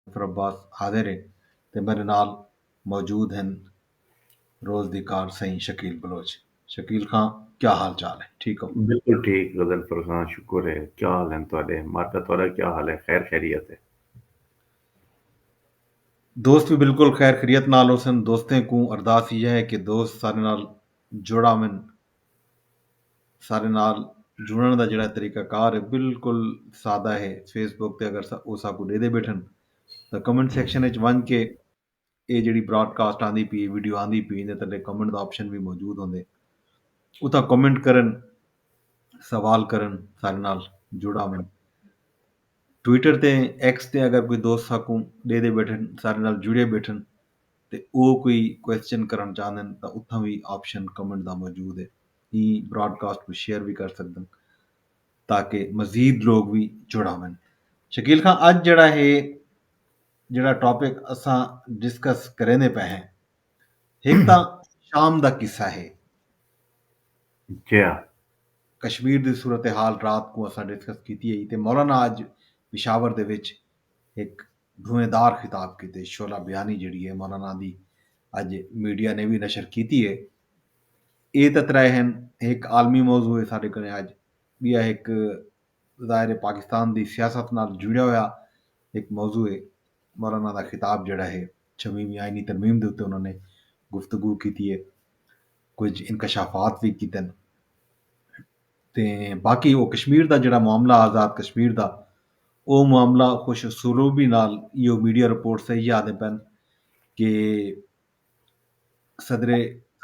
ظفر عباس حاضر ہے تے میڈے نال موجود ہن روز دی کار سئیں شکیل بلوچ شکیل خاں کیا حال چال ہے ٹھیک ہو؟ بالکل ٹھیک غضنفر خاں شکر ہے کیا حال ہن تہاڈے ماڈا تہاڈا کیا حال ہے خیر خیریت ہے؟ دوست وی بالکل خیر خیریت نال ہوسن دوستیں کوں ارداس ایہا ہے کہ دوست سارے نال جڑا ون سارے نال جڑن دا جڑا طریقہ کار ہے بالکل سادہ ہے فیس بک تے اگر او ساکو ڈے دے بیٹھن تو کمنٹ سیکشن وچ ونج کے اے جڑی براڈ کاسٹ آندی پی ویڈیو آندی پی نے تلے کمنٹ دا آپشن بھی موجود ہوندے اتھا کمنٹ کرن سوال کرن سارے نال جڑا میں ٹویٹر تے ایکس تے اگر کوئی دوست ساکو ڈے دے بیٹھن سارے نال جڑے بیٹھن تے او کوئی کوسچن کرݨ چاہندن تاں اتھاں وی آپشن کمنٹ دا موجود ہے ایں براڈ کاسٹ کوں شیئر وی کر سگدن تاکہ مزید لوگ وی جڑ آون شکیل خان اج جڑا ہے جڑا ٹاپک اساں ڈسکس کریندے پئے ہیں ہک تاں شام دا قصہ ہے جیا کشمیر دی صورتحال رات کو اساں ڈسکس کیتی ہے تے مولانا اج پشاور دے وچ ہک بھویں دار خطاب کیتے شعلہ بیانی جیڑھی اے مولانا دی اج میڈیا نے وی نشر کیتی اے۔ اے تاں ترے ہن ہک عالمی موضوع اے ساڈے کنے اج بیا ہک ظاہر اے پاکستان دی سیاست نال جڑیا ہویا ہک موضوع اے مولانا دا خطاب جیڑھا ہے چھویویں آئینی ترمیم دے اتے انہاں نے گفتگو کیتی اے کچھ انکشافات وی کیتن تے باقی او کشمیر دا جیڑھا معاملہ آزاد کشمیر دا او معاملہ کچھ سروبی نال ایہو میڈیا رپورٹس ایہی آہدے پن کہ صدر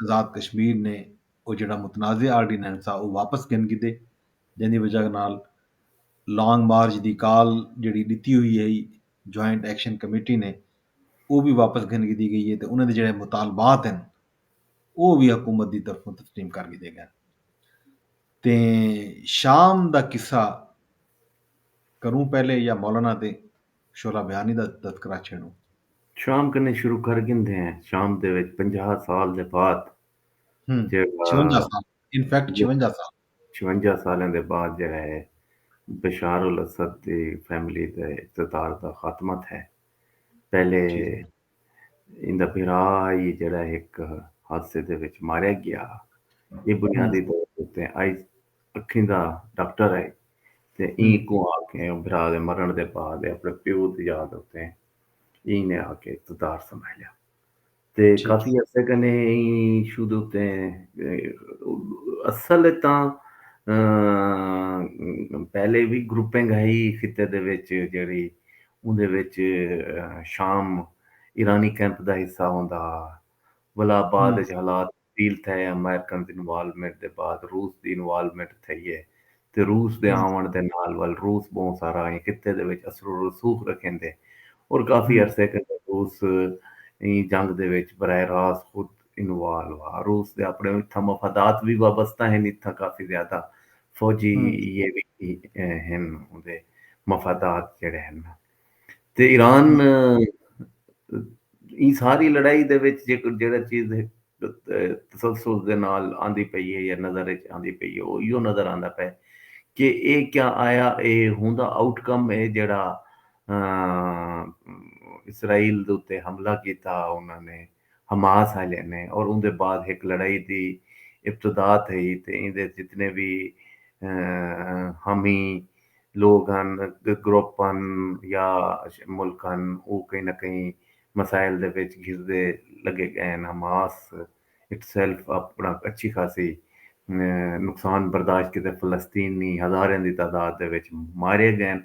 آزاد کشمیر نے او جیڑھا متنازعہ آرڈیننس ہا او واپس گھن گھدے جیندی وجہ نال لانگ مارچ دی کال جیڑھی ڈتی ہوئی ہئی جوائنٹ ایکشن کمیٹی نے او وی واپس گھن گھدی گئی ہے تے انہاں دے جیڑھے مطالبات ہن او وی حکومت دی طرفوں تسلیم کر گھدے گئن۔ تے شام دا قصہ کروں پہلے یا مولانا دے شعلہ بیانی دا تذکرہ چھیڑوں؟ شام کنیں شروع کر گھندے ہیں، شام دے وچ پنجاہ سال دے بعد جیڑھا چھونجا سال ان فیکٹ چھونجا سال چھونجا سالاں دے بعد جیڑھا ہے بشار الاسد دی فیملی دے اقتدار دا خاتمہ تھے پہلے ایندا بھرا ہئی جیڑھا ہک حادثے دے وچ ماریا گیا ہا۔ ایہ بنیادی طور اتے آئی اکھیں دا ڈاکٹر ہئی تے ایں کوں آ کے بھرا دے مرݨ دے بعد ایہ اپݨے پیو دی یاد اتے ایں نے آ کے اقتدار سنبھالیا تے کافی عرصے کنے ایں ایشو دے اتے اصل اچ تاں پہلے وی گروپنگ ہئی خطے دے وچ جیڑھی اوندے وچ شام ایرانی کیمپ دا حصہ ہوندا ہا ولا بعد اچ حالات تبدیل تھئے امریکنز انوالومنٹ دے بعد روس دی انوالومنٹ تھئی اے تے روس دے آوݨ دے نال ول روس ٻہوں سارا ایں خطے دے وچ اثر و رسوخ رکھیندے اور کافی عرصے کنوں روس ایں جنگ دے وچ براہ راست خود انوالو ہا۔ روس دے اپنڑے اتھاں مفادات وی وابستہ ہن، اتھاں کافی زیادہ فوجی یہ وی ہن اوندے مفادات جیڑھے ہن نا۔ تے ایران ایں ساری لڑائی دے وچ جیڑھا چیز تسلسل دے نال آندی پئی ہے یا نظر وچ آندی پئی ہے او ایہو نظر آندا پئے کہ اے کیا آیا اے ہوندا آؤٹ کم اے جیڑھا اسرائیل دے اتے حملہ کیتا انہاں نے۔ حماس آلیاں نے اور اوندے بعد ہک لڑائی دی ابتدا تھئی تے ایندے اچ جتنے وی حامی لوگ ہن، گروپ ہن یا ملک ہن او کہیں نہ کہیں مسائل دے وچ گھسدے لگے گئے ہن۔ حماس اٹسیلف اپنا اچھی خاصی نقصان برداشت کیتے، فلسطینی ہزاراں دی تعداد دے وچ مارے گئے ہن۔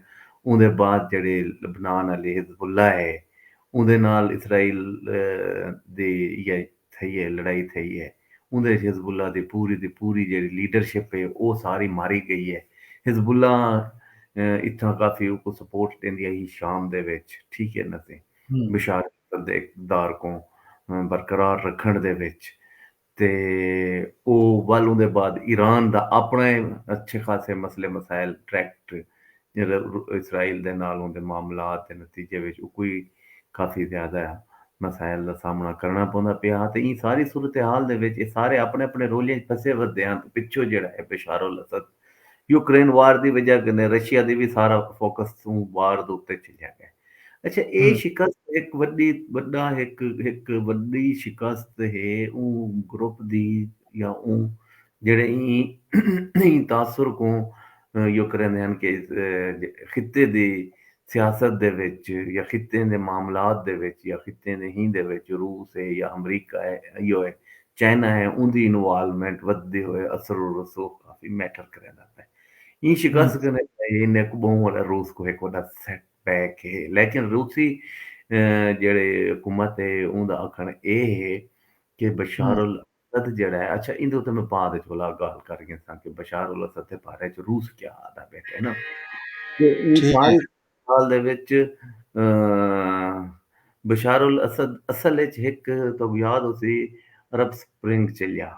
اوندے بعد جیہڑی لبنان آلی حزب اللہ ہے اوندے نال اسرائیل دی یا تھئی اے لڑائی تھئی اے۔ اوندے اچ حزب اللہ دی پوری دی پوری جیڑھی لیڈرشپ اے او ساری ماری گئی اے۔ حزب اللہ اتھاں کافی اوکوں سپورٹ ڈیندی ہئی شام دے وچ ٹھیک اے نہ تے بشار اسد دے اقتدار کوں برقرار رکھنڑ دے وچ۔ تے او ول اوندے بعد ایران دا اپݨا اے اچھے خاصے مسئلے مسائل ٹریکٹ اسرائیل دے نال اوندے معاملات دے نتیجے وچ اوکوں وی کافی زیادہ مسائل دا سامݨا کرݨا پوندا پیا ہا تے ایں ساری صورتحال دے وچ اے سارے اپݨے اپݨے رولیں اچ پھسے ودے ہن تے پچھوں جیڑھا اے بشار الاسد یوکرین وار دی وجہ کنے رشیا دی وی سارا فوکس اوں وار دے اتے چلیا ڳئے۔ اچھا اے شکست ہک وڈی وڈا ہک ہک وڈی شکست ہے اوں گروپ دی یا اوں جڑے ایں تاثر کو یو کریندے ہن کہ خطے دی سیاست دے وچ یا خطے دے معاملات دے وچ یا خطے دے ہی دے وچ روس ہے یا امریکہ ہے ایو ہے چائنا ہے اون دی انوالومنٹ ودھدے ہوئے اثر و رسوخ کافی میٹر کریندا پئے۔ ایں شکست کنے انہیں کوں ٻہوں وݙا روس کوں ہک وݙا سیٹ بیک ہے لیکن روسی جیڑھے حکومت ہے اوں دا آکھݨ اے ہے کہ بشار الاسد جیڑھا ہے اچھا ایندے اتے میں بعد وچ بھلا گالھ کر گھنساں کہ بشار الاسد دے بارے وچ روس کیا آدا بیٹھے نا کہ اوں سارے سال دے وچ بشار الاسد اصل وچ ہک تو یاد ہوسی عرب سپرنگ چلیا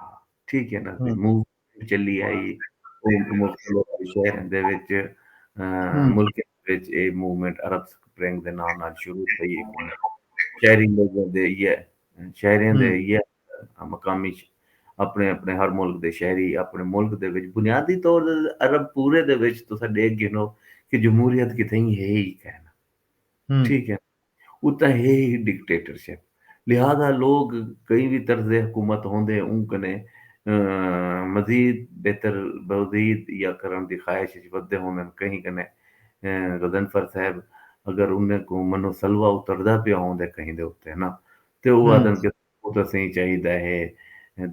ٹھیک ہے نا موو چلی آئی مختلف شہریں دے وچ ملکیں دے وچ اے موومنٹ عرب سپرنگ دے ناں نال شروع تھئی ہکن شہری لوگوں دے یہ شہریں دے یہ مقامی اپنے اپنے ہر ملک دے شہری اپنے ملک دے وچ بنیادی طور عرب پورے دے وچ تسا ڈیکھ گھنو کہ جمہوریت کتھیں ہے ہی کہنا ٹھیک ہے اتاں ہے ہی ڈکٹیٹرشپ لہذا لوگ کہیں وی طرز حکومت ہوندے اوں کنے مزید بہتر بوزید یا کرݨ دی خواہش اچ ودھدے ہوندن کہیں کنے غضنفر صاحب اگر انہیں کوں منو سلوہ اتردا پیا ہوندے کہیں دے اتے نا تے او آہدن کہ او تاں سئیں چاہیدا ہے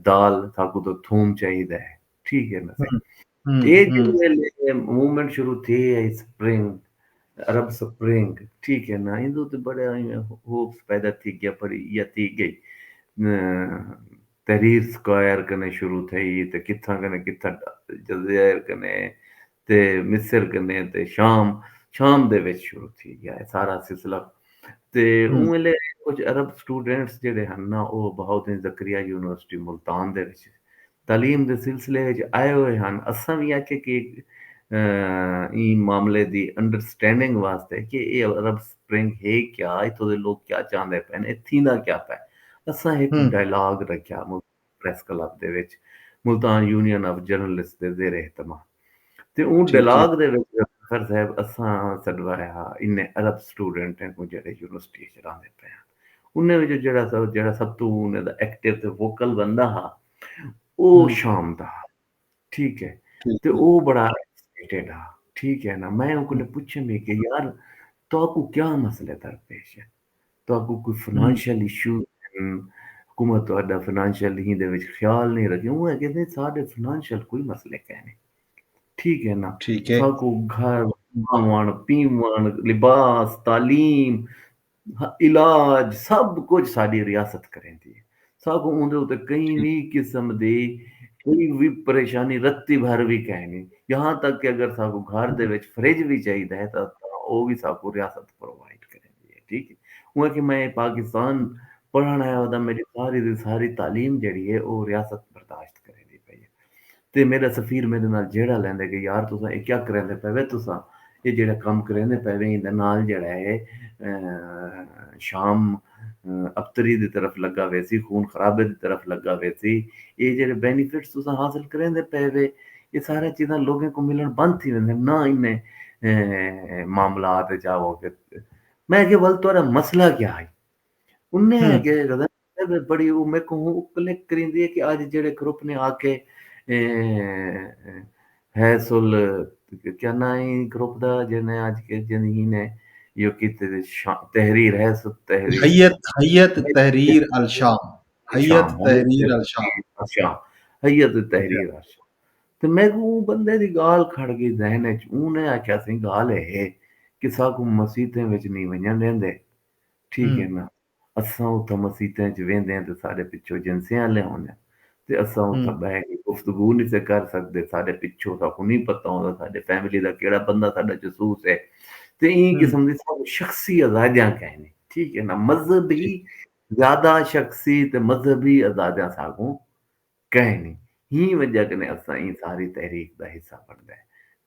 دال ساکوں تاں تھوم چاہیدا ہے ٹھیک ہے نا سئیں اے جیڑھے ویلے موومنٹ شروع تھے ہے اسپرنگ عرب سپرنگ ٹھیک ہے نا ایندے اتے بڑے ہوپس پیدا تھی گیا پڑی یا تھی گئی تحریر سکوائر کنے شروع تھئی تے کتھاں کنے کتھاں جزائر کنے تے مصر کنے تے شام شام دے وچ شروع تھی گیا ہے سارا سلسلہ تے اوں ویلے کچھ عرب سٹوڈنٹس جڑے ہن نا او بہاؤالدین زکریا یونیورسٹی ملتان دے وچ تعلیم دے سلسلے وچ آئے ہوئے ہن اساں وی آکھیا کہ ایں معاملے دی انڈرسٹینڈنگ واسطے کہ اے عرب سپرنگ ہے کیا اتھوں دے لوگ کیا چاہندے پئے ہن اے تھیندا کیا پئے اساں ہک ڈائیلاگ رکھیا پریس کلب دے وچ ملتان یونین آف جرنلسٹ دے زیر اہتمام تے اوں ڈیلاگ دے وچ ذوالفقار صاحب اساں سڈوایا ہا انھیں عرب سٹوڈنٹ ہیں کوں جیڑھے یونیورسٹی اچ راہندے پئے ہن انھیں وچوں جیڑھا سب جیڑھا سب توں انھیں دا ایکٹیو تے ووکل بندہ ہا او شام دا ہا ٹھیک ہے تے او بڑا ایکسائٹڈ ہا ٹھیک ہے نا میں اوں کولے پچھم ہی کہ یار تہاکوں کیا مسئلے درپیش ہیں تہاکوں کوئی فنانشل ایشو ہن حکومت تہاڈا فنانشل ہی دے وچ خیال نہیں رکھے اوہ کہندے ساڈے فنانشل کوئی مسئلے کہہ نہیں ٹھیک ہے نا ٹھیک ہے تہاکو گھر کھاون پیون لباس تعلیم علاج سب کچھ ساڈی ریاست کریندی ہے ساکوں اوندے اتے کئی وی قسم دی کوئی وی پریشانی رتی بھر وی کائنی یہاں تک کہ اگر ساکوں گھر دے وچ فریج وی چاہیدا ہے تاں او وی ساکوں ریاست پرووائیڈ کریندی ہے ٹھیک ہے اوں آکھیا میں پاکستان پڑھن آیا ہاں تاں میڈی ساری دی ساری تعلیم جیڑھی ہے او ریاست برداشت کریندی پئی ہے۔ تے میݙا سفیر میݙے نال جھیڑا لیندے کہ یار تساں اے کیا کریندے پئے وے تساں اے جیڑھا کم کریندے پئے وے ایندے نال جیڑھا اے شام ابتری دی طرف لگا ویسی خون خرابے دی طرف لگا ویسی اے جیڑھے بینیفٹس تساں حاصل کریندے پئے وے اے سارا چیزاں لوگیں کوں ملݨ بند تھی ویندن نہ انہیں معاملات وچ آوو میں آکھیا ول تہاݙا مسئلہ کیا ہئی انہیں آکھیا کہ غزنفر اے وے بڑی او میکوں ہوں او کلک کریندی اے کہ آج جیڑھے گروپ نے آ کے ہیس ال کیا ناں اے گروپ دا جیڑھے نے آج کے جیندی ہی نے یو کی تے تحریر ہیس تحریر ہیت ہیت تحریر الشام ہیت تحریر الشام ہیت تحریر الشام تے میں کو اون بندے دی گال کھڑ گئی ذہن وچ اون نے آکھیا سی گال ہے کہ سا کو مسیتیں وچ نہیں ونجن دیندے ٹھیک ہے نا اساں اتھاں مسیتاں اچ ویندے ہن تے ساڈے پچھوں جنسیں آلے ہوندن تے اساں اتھاں بہہ کے گفتگو نی سے کر سگدے ساڈے پچھوں ساکوں نی پتہ ہوندا ساڈے فیملی دا کیڑا بندہ ساڈا جسوس ہے تے ایں قسم دی ساکوں شخصی ازادیاں کائنی ٹھیک ہے نا مذہبی زیادہ شخصی تے مذہبی ازادیاں ساکوں کہیں نی ہی وجہ کنے اساں ایں ساری تحریک دا حصہ بنڑدے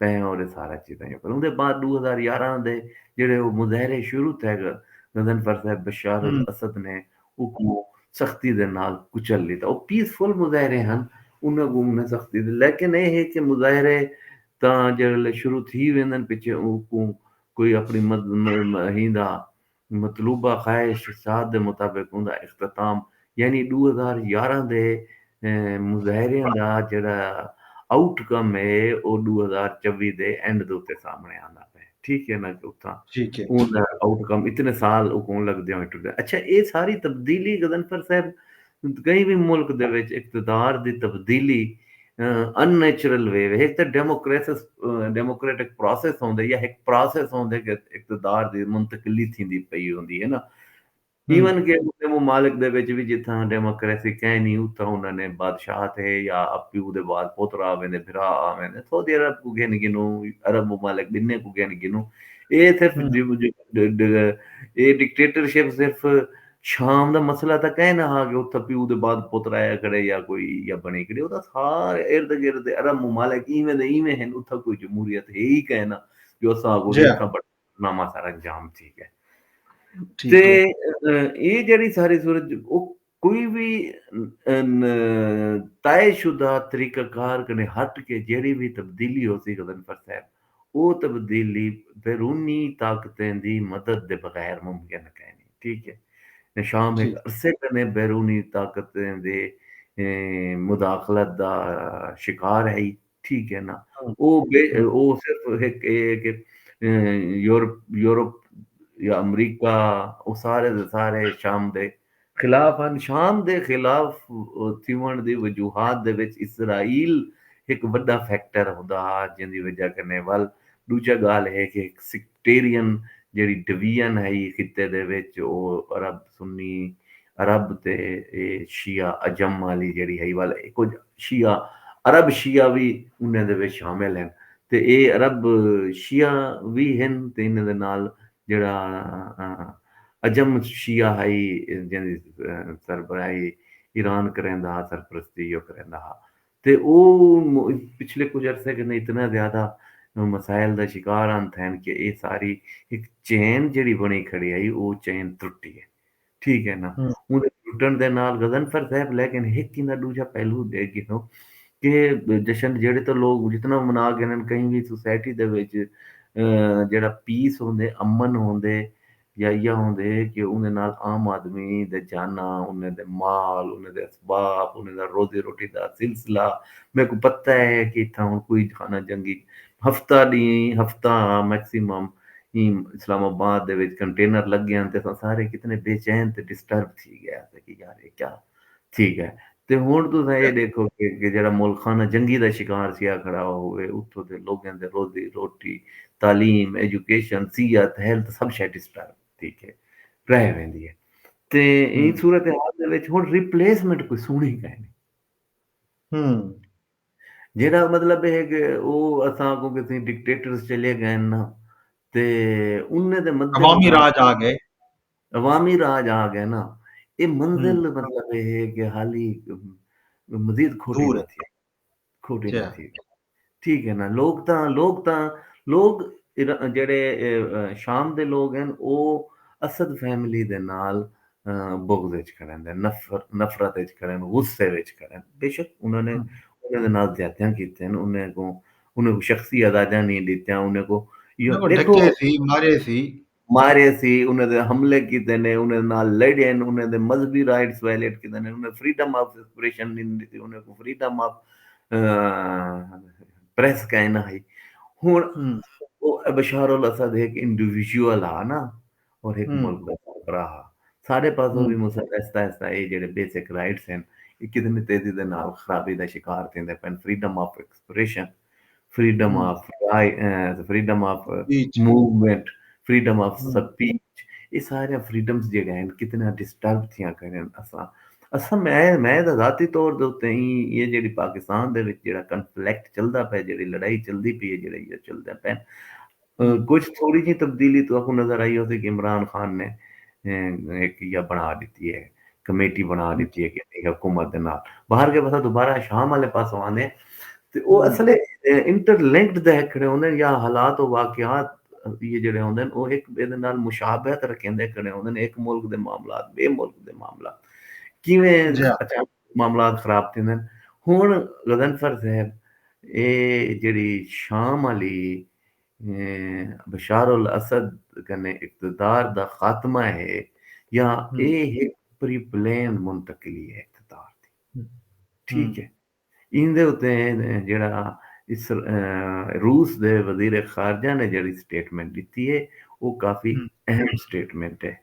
پئے ہاں اور اے سارا چیزاں یو کر اوندے بعد ݙو ہزار یارہاں دے جیڑھے او مظاہرے شروع تھے گا غضنفر صاحب بشار الاسد نے اوکوں سختی دے نال کچل لیتا او پیس فل مظاہرے ہن انہاں کوں انہیں سختی دے لیکن اے ہے کہ مظاہرے تاں جیڑھے شروع تھی ویندن پچھے اوکوں کوئی اپنی مد ہیندا مطلوبہ خواہش ساز دے مطابق اوندا اختتام یعنی ݙو ہزار یارہاں دے مظاہریاں دا جیڑھا آؤٹ کم ہے او ݙو ہزار چوی دے اینڈ دے اتے سامݨے آندا پئے ٹھیک ہے نا کہ اتھاں اوندا آؤٹ کم اتنے سال اکوں لڳدے ہوئیں ٹردے اچھا اے ساری تبدیلی غضنفر صاحب کہیں وی ملک دے وچ اقتدار دی تبدیلی ان نیچرل وے وے ہک تاں ڈیموکریسس ڈیموکریٹک پروسس ہوندے یا ہک پروسس ہوندے کہ اقتدار دی منتقلی تھیندی پئی ہوندی ہے نا ایون کہ انہاں دے ممالک دے وچ وی جتھاں ڈیموکریسی کینی اتھاں انہاں نے بادشاہت ہے یا پیو دے بعد پوترا آ ویندے بھرا آ ویندے سعودی عرب کوں گھن گھنو عرب ممالک بننے کوں گھن گھنو اے صرف اے ڈکٹیٹرشپ صرف شام دا مسئلہ تاں کائے نہ ہا کہ اتھاں پیو دے بعد پتر آیا کھڑے یا کوئی یا بݨی کھڑی اتھاں سارے ارد گرد دے عرب ممالک ایویں دے ایویں ہن اتھاں کوئی جمہوریت ہے ای کائے نہ جو اساں آکھوں کہ اتھاں بڑا نامہ سارا انجام تھی ڳئے تے اے جیڑھی ساری صورت او کوئی وی طے شدہ طریقہ کار کنے ہٹ کے جیڑھی وی تبدیلی ہوسی غضنفر صاحب او تبدیلی بیرونی طاقتیں دی مدد دے بغیر ممکن کائنی۔ ٹھیک ہے۔ نشام ہک عرصے کنے بیرونی طاقتیں دے مداخلت دا شکار ہئی۔ ٹھیک ہے نا۔ او او صرف ہک اے ہے کہ یورپ یا امریکہ او سارے دے سارے شام دے خلاف ہن۔ شام دے خلاف تھیوݨ دی وجوہات دے وچ اسرائیل ہک وݙا فیکٹر ہوندا ہا جیندی وجہ کنیں ول ݙوجھا ڳالھ ہے کہ ہک سیکٹیرین جیڑھی ڈویژن ہئی خطے دے وچ او عرب سنی عرب تے شیعہ عجم آلی جیڑھی ہئی ول کجھ شیعہ عرب شیعہ وی انہیں دے وچ شامل ہن تے اے عرب شیعہ وی ہن تے انہیں دے نال جیڑھا عجم شیعہ ہئی جیندی سربراہی ایران کریندا ہا سرپرستی او کریندا ہا تے او پچھلے کجھ عرصے کن اتنا زیادہ مسائل دا شکار ہن تھین کہ اے ساری ہک چین جیڑھی بنڑی کھڑی ہئی او چین ترٹی اے۔ ٹھیک ہے نا اوندے ٹوٹن دے نال غضنفر صاحب لیکن ہک ایندا ڈوجھا پہلو ڈیکھ گھنو کہ جشن جیڑے تو لوگ جتنا منا گھنن کہیں بھی سوسائٹی دے وچ جیڑا پیس ہوندے امن ہوندے یا یہ ہوندے کہ اوندے نال عام آدمی دے جانا اوندے دے مال اوندے دے اسباب اوندے دا روزی روٹی دا سلسلہ میں کو پتہ ہے کہ اتھا ہن کوئی خانہ جنگی ہفتہ ݙینھ ہفتہ ہا میکسیمم ایں اسلام آباد دے وچ کنٹینر لڳے ہن تے اساں سارے کتنے بے چین تے ڈسٹرب تھی ڳئے ہاسے کہ یار اے کیا تھی ڳئے تے ہݨ تساں اے ݙیکھو کہ جیڑھا ملک خانہ جنگی دا شکار تھیا کھڑا ہووے اتھوں دے لوکیں دے روزی روٹی تعلیم ایجوکیشن صحت ہیلتھ سب شے ڈسٹرب تھی کے رہ ویندی اے تے ایں صورتحال دے وچ ہݨ ریپلیسمنٹ کوئی سݨی کائنی۔ جیہڑا مطلب اے ہے کہ او اساں اگوں کتھیں ڈکٹیٹرز چلے گئن نا تے انہیں دے مد عوامی راج آ گئے عوامی راج آ گئے نا اے منزل مطلب اے ہے کہ حالی مزید کھوٹی نہ تھی کھوٹی نہ تھی ٹھیک ہے نا لوگ تاں لوگ تاں لوگ جڑے شام دے لوگ ہیں او اسد فیملی دے نال بغض اچ کھڑن دے نفرت اچ کھڑن غصے وچ کھڑن بے شک انہاں نے انہاں دے نال زیادتیاں کیتین انہاں کوں انہاں کوں شخصی ازادیاں نہیں ڈتیاں انہاں کو یو دیکھو ڈکے سی مارے سی مارے سی انہاں دے حملے کیتے نے انہاں دے نال لڑے نے انہاں دے مذہبی رائٹس وائلیٹ کیتے نے انہاں فریڈم آف ایکسپریشن نہیں ڈتی انہاں کو فریڈم آف پریس کائنا ہئی ہن بشار الاسد ایک انڈیویجول آ نا اور ہک ملک دا سربراہ ہا۔ ساڈے پاسوں وی مصر آہستہ آہستہ ایہ جیڑھے بیسک رائٹس ہن ایہ کتنی تیزی دے نال خرابی دا شکار تھیندے پئن، freedom of expression, freedom of right, freedom of movement, freedom of speech ایہ ساریاں فریڈمز جیڑھیاں ہن کتنیاں ڈسٹرب تھیاں کھڑن۔ اساں اساں میں میں تاں ذاتی طور دے اتے ایں ایہ جیڑھی پاکستان دے وچ جیڑھا کنفلیکٹ چلدا پئے جیڑھی لڑائی چلدی پئی ہے جیڑھے ایہ چلدے پئن، کجھ تھوڑی جیں تبدیلی تہاکوں نظر آئی ہوسی کہ عمران خان نے ہک یا بنا ڈتی ہے کمیٹی بنا ڈتی ہے کہ حکومت دے نال باہر کے بسا دوبارہ شام والے پاسوں آندے تے او اصل انٹر لنکڈ دے کھڑے ہوندے یا حالات و واقعات یہ جڑے ہوندے او ہک بے دے نال مشابہت رکھیندے کھڑے ہوندے ہک ملک دے معاملات بے ملک دے معاملات کیویں اچانک معاملات خراب تھیندن ہن غضنفر صاحب اے جیڑھی شام آلی بشار الاسد کنے اقتدار دا خاتمہ ہے یا اے ہک پری پلین منتقلی ہے اقتدار دی ٹھیک ہے ایندے اتے جیڑھا روس دے وزیر خارجہ نے جیڑھی سٹیٹمنٹ ڈتی ہے او کافی اہم سٹیٹمنٹ ہے۔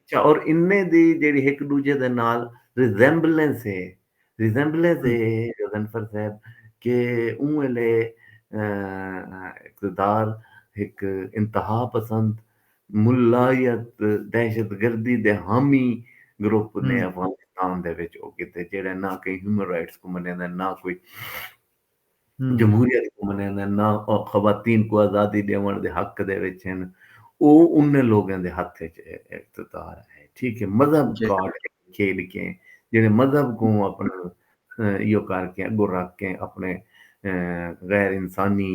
اچھا اور انہیں دی جیڑی ہک ڈوجھے دے نال ریزیمبلنس ہے ریزیمبلنس ہے غضنفر صاحب کہ اوں ویلے اقتدار ہک انتہا پسند ملایت دہشت گردی دے حامی گروپ نے افغانستان دے وچ او کیتے جیڑھے نہ کہیں ہیومن رائٹس کوں منے دے نہ کوئی جمہوریت کوں منیندن نہ او خواتین کوں آزادی ڈیونڑ دے حق دے وچ ہن او انھیں لوگیں دے ہتھ وچ اقتدار ہے ٹھیک ہے مذہب کارڈ کھیڈ کے جیڑھے مذہب کوں اپنا ایہو کر کے اگو رکھ کے اپنے غیر انسانی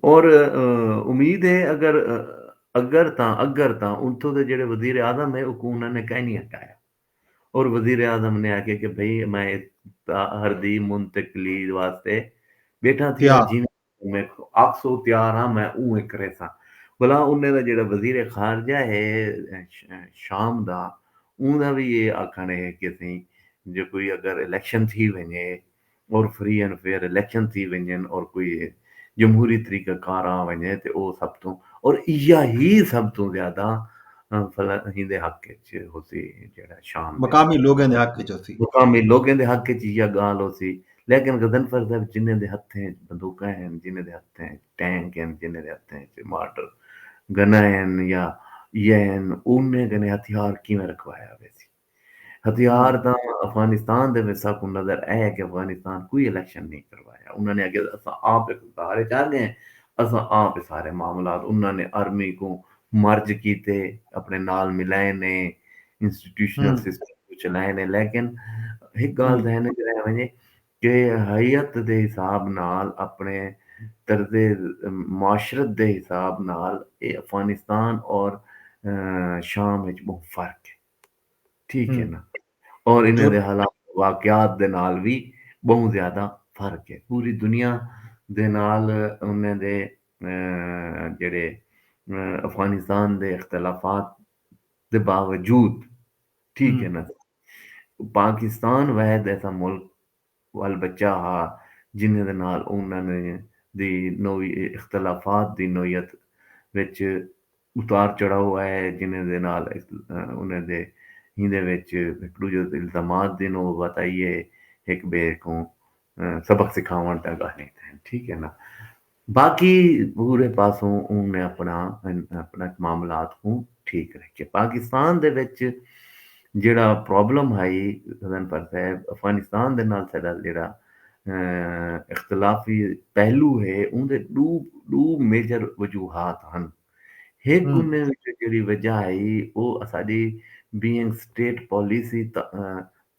اور امید ہے اگر اگر تاں اگر تاں انتھوں دے جڑے وزیر اعظم ہے اوکوں انہاں نے کائنی ہٹایا اور وزیر اعظم نے آکھیا کہ بھئی میں تاہر دی منتقلی واسطے بیٹھا تھی جی میں آکسو تیار ہاں میں اونویں کریساں بھلا انہیں دا جڑا وزیر خارجہ ہے شام دا اوندا بھی یہ آکھن ہے کہ تھیں جو کوئی اگر الیکشن تھی ونجے اور فری اینڈ فیئر الیکشن تھی ونجن اور کوئی جمہوری طریقہ کار آ ونجے تے او سب توں اور ایہا ہی سب توں زیادہ فلاحیں دے حق اچ ہوسی جیڑھا شام مقامی لوگیں دے حق اچ ہوسی مقامی لوگیں دے حق اچ ایہا گالھ ہوسی لیکن غضنفر صاحب جنہیں دے ہتھیں اچ بندوقاں ہن جنہیں دے ہتھیں اچ ٹینک ہن جنہیں دے ہتھیں اچ مارٹر گناں ہن یا ایہا ہن انہیں کنے ہتھیار کیویں رکھوایا ویسی۔ ہتھیار تاں افغانستان دے وچ ساکوں نظر اے کہ افغانستان کوئی الیکشن نئیں کروایا انہاں نے آکھیا اساں آپ اقتدار اچ آ گئے اساں آپ اے سارے معاملات انہاں نے آرمی کوں مرج کیتے اپنے نال ملائے نے انسٹیٹیوشنل سسٹم کوں چلائے نے لیکن ہک گالھ ذہن اچ رہ ونجے کہ ہیئت دے حساب نال اپنے طرز معاشرت دے حساب نال اے افغانستان اور شام اچ بہوں فرق اے۔ ٹھیک ہے نا اور انہیں دے حالات واقعات دے نال بھی بہت زیادہ فرق ہے پوری دنیا دے نال انہیں دے جڑے افغانستان دے اختلافات دے باوجود ٹھیک ہے نا پاکستان وحد ایسا ملک وال بچہ ہا جنھیں دے نال انھاں دی نوعی اختلافات دی نوعیت وچ اتار چڑھاؤ آئے جنھیں دے نال انھاں دے ایندے وچ ہک ڈوجھے تے الزامات دی نوبت آئی ہے ہک بئے کوں سبق سکھاوݨ تاں گالھیں تھئن ٹھیک ہے نا باقی پورے پاسوں اوں نے اپنا اپنا معاملات کوں ٹھیک رکھے پاکستان دے وچ جیڑا پرابلم ہائی غزن پر صاحب افغانستان دے نال ساڈا جیڑا اختلافی پہلو ہے اون دے ڈو ڈو میجر وجوہات ہن ہک انھیں وچوں جیڑھی وجہ ہئی او اساݙی بینگ اسٹیٹ پالیسی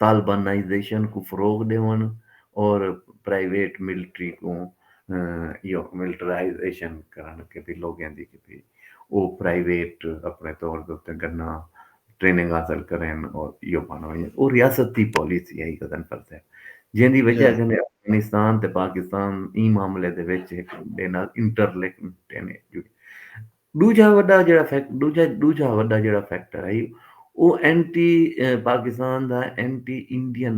طالبانائزیشن کوں فروغ ݙیوݨ اور پرائیویٹ ملٹری کوں ملٹرائزیشن کرݨ کیتے لوگاں دی کیتے او پرائیویٹ اپݨے طور دے اتے گناں ٹریننگ حاصل کرن اور ایہو بن ونجن او ریاست دی پالیسی ہئی غضن فر صاحب جیندی وجہ کنے افغانستان تے پاکستان ایں معاملے دے وچ ہک ڈے نال انٹر لنکڈ ہن ڈوجھا وڈا جیڑا فیکٹ ڈوجھا ڈوجھا وڈا جیڑا فیکٹر ہئی او anti Pakistan the entity Indian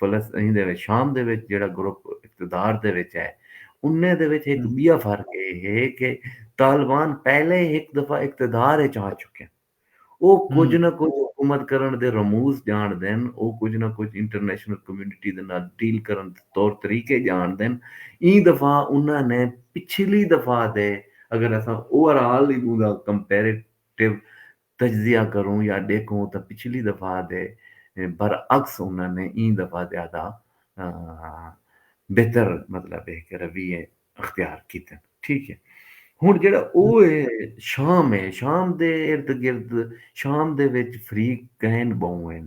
فلسطین دے وچ شام دے وچ جیڑھا گروپ اقتدار دے وچ ہے انہیں دے وچ ہک ٻیا فرق اے ہے کہ طالبان پہلے ہی ہک دفعہ اقتدار اچ آ چکن۔ او کجھ نہ کجھ حکومت کرݨ دے رموز ڄاݨدن، او کجھ نہ کجھ انٹرنیشنل کمیونٹی دے نال ڈیل کرݨ دے طور طریقے ڄاݨدن۔ ایں دفعہ انہاں نے پچھلی دفعہ دے اگر اساں اوور آل دی ٻہوں دا کمپیریٹو تجزیہ کروں یا ڈیکھوں تاں پچھلی دفعہ دے برعکس انہاں نے ایں دفعہ زیادہ بہتر مطلب اے کہ رویے اختیار کیتے ہن ٹھیک اے ہن جیڑا او اے شام اے شام دے ارد گرد شام دے وچ فریق گئن بہوں ہن۔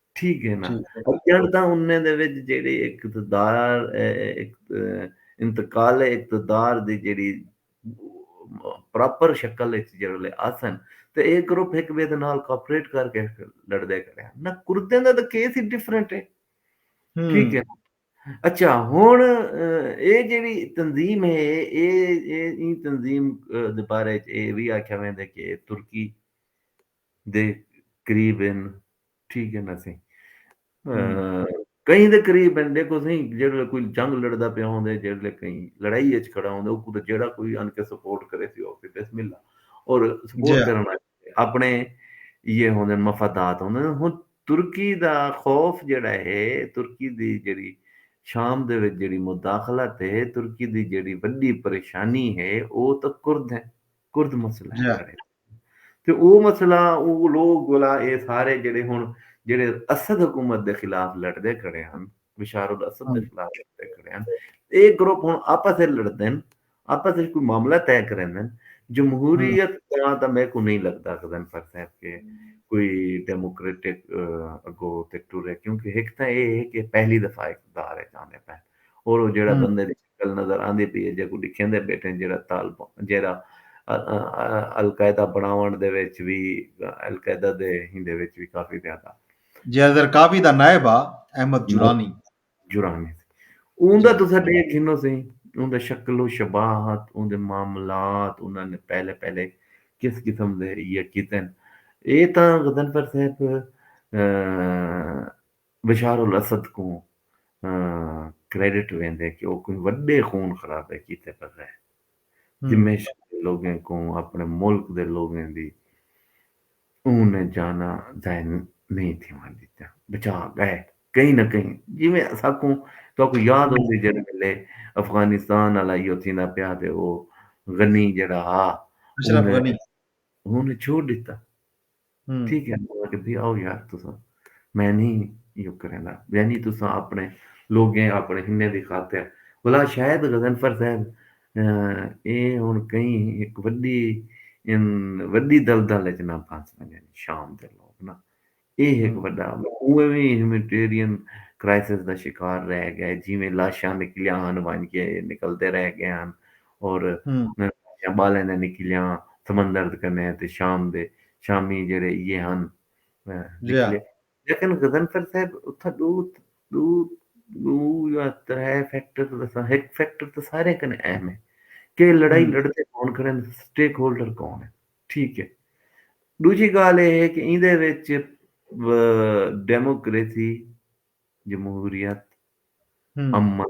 ٹھیک ہے نا اجڑ دا انہیں دے وچ جیڑی اقتدار انتقال اقتدار دی جیڑی پراپر شکل وچ جیڑے آسن تے اے گروپ ہک بے دے نال کوپریٹ کر کے لڑ دے کرے نہ کردے دا تے کیس ہی ڈیفرنٹ ہے ٹھیک ہے اچھا ہن اے جیڑی تنظیم ہے اے اے تنظیم دے بارے اے وی آکھیا ویندے کہ ترکی دے قریب ہن ٹھیک ہے نا سائیں کہیں دے قریب ہن دیکھو سائیں جیڑھے کوئی جنگ لڑدا پیا ہوندے جیڑھے کہیں لڑائی اچ کھڑا ہوندے او کوں جیڑھا کوئی ان کے سپورٹ کرے سی او بسم اللہ اور سپورٹ کرن والے اپنے یہ ہوندے مفادات ہوندے ہن ترکی دا خوف جیڑھا ہے ترکی دی جیڑھی شام دے وچ جیڑھی مداخلت ہے ترکی دی جیڑھی وڈی پریشانی ہے او تاں کرد ہیں کرد مسئلہ ہے ساڑے تے او مسئلہ او لوگ گولا اے سارے جڑے ہن جڑے اسد حکومت دے خلاف لڑدے کھڑے ہن بشار الاسد دے خلاف لڑدے کھڑے ہن اے گروپ ہن آپس اچ لڑدن آپس اچ کوئی معاملہ طے کریندن جمہوریت دا تاں میکوں نئیں لگدا غضنفر صاحب کہ کوئی ڈیموکریٹک اگو تے ٹرے کیونکہ ہک تاں اے ہے کہ پہلی دفعہ اقتدار اچ آندے پئے اور او جیڑھا بندے دی گل نظر آندی پئی اے جیکوں ڈکھیندے بیٹھے جیڑھا طالبان جیڑھا القاعدہ بنڑاونڑ دے وچ وی القاعدہ دے ہیندے وچ وی کافی زیادہ۔ جیڑھا زرقاوی دا نائب ہا احمد جرانی۔ جرانی سی اوندا تساں ڈیکھ گھنو سی اوندا شکل و شباہت اوندے معاملات انہاں نے پہلے پہلے کس قسم دے یہ کیتن اے تاں غضنفر صاحب۔ بشار الاسد کوں کریڈٹ ویندے کہ او کوئی وڈے خون خرابے کیتے بغیر دمشق دے لوگیں کوں اپنڑے ملک دے لوگیں دی اوں نے جاناں ضائع نئیں تھیوݨ ڈتیاں بچا گئے کہیں نہ کہیں جیویں اساکوں تہاکوں یاد ہوسی جیڑھے ویلے افغانستان آلا ایہو تھیندا پیا تے او غنی جیڑھا ہا اشرف غنی اوں نے چھوڑ ڈتا ٹھیک ہے مطلب کہ بھی آؤ یار تو سب میں نہیں یوں کریں گا یعنی تو سب اپنے لوگ ہیں اپنے ہنے دی خاطر بلا شاید غزنفر صاحب اے ہن کہیں ایک وڈی ان وڈی دلدل وچ نہ پھنس ونجن شام دے لوگ نا اے ایک وڈا اوویں وی ہیومینٹیرین کرائسس دا شکار رہ گئے جویں لاشاں نکلیاں ہن ونج کے نکلدے رہ گئے ہن اور میں پاسیاں بالیں دے نکلیاں سمندر کنے تے شام دے شامی جیڑھے ایہے ہن نکلے لیکن غضنفر صاحب اتھاں ڈو ڈو ڈو یا ترے فیکٹر دساں ہک فیکٹر تے سارے کنے اہم ہے کہ لڑائی لڑتے کون کھڑے ہیں سٹیک ہولڈر کون ہے ٹھیک ہے دوجی گال یہ ہے کہ ایندے وچ ڈیموکریسی جمہوریت امن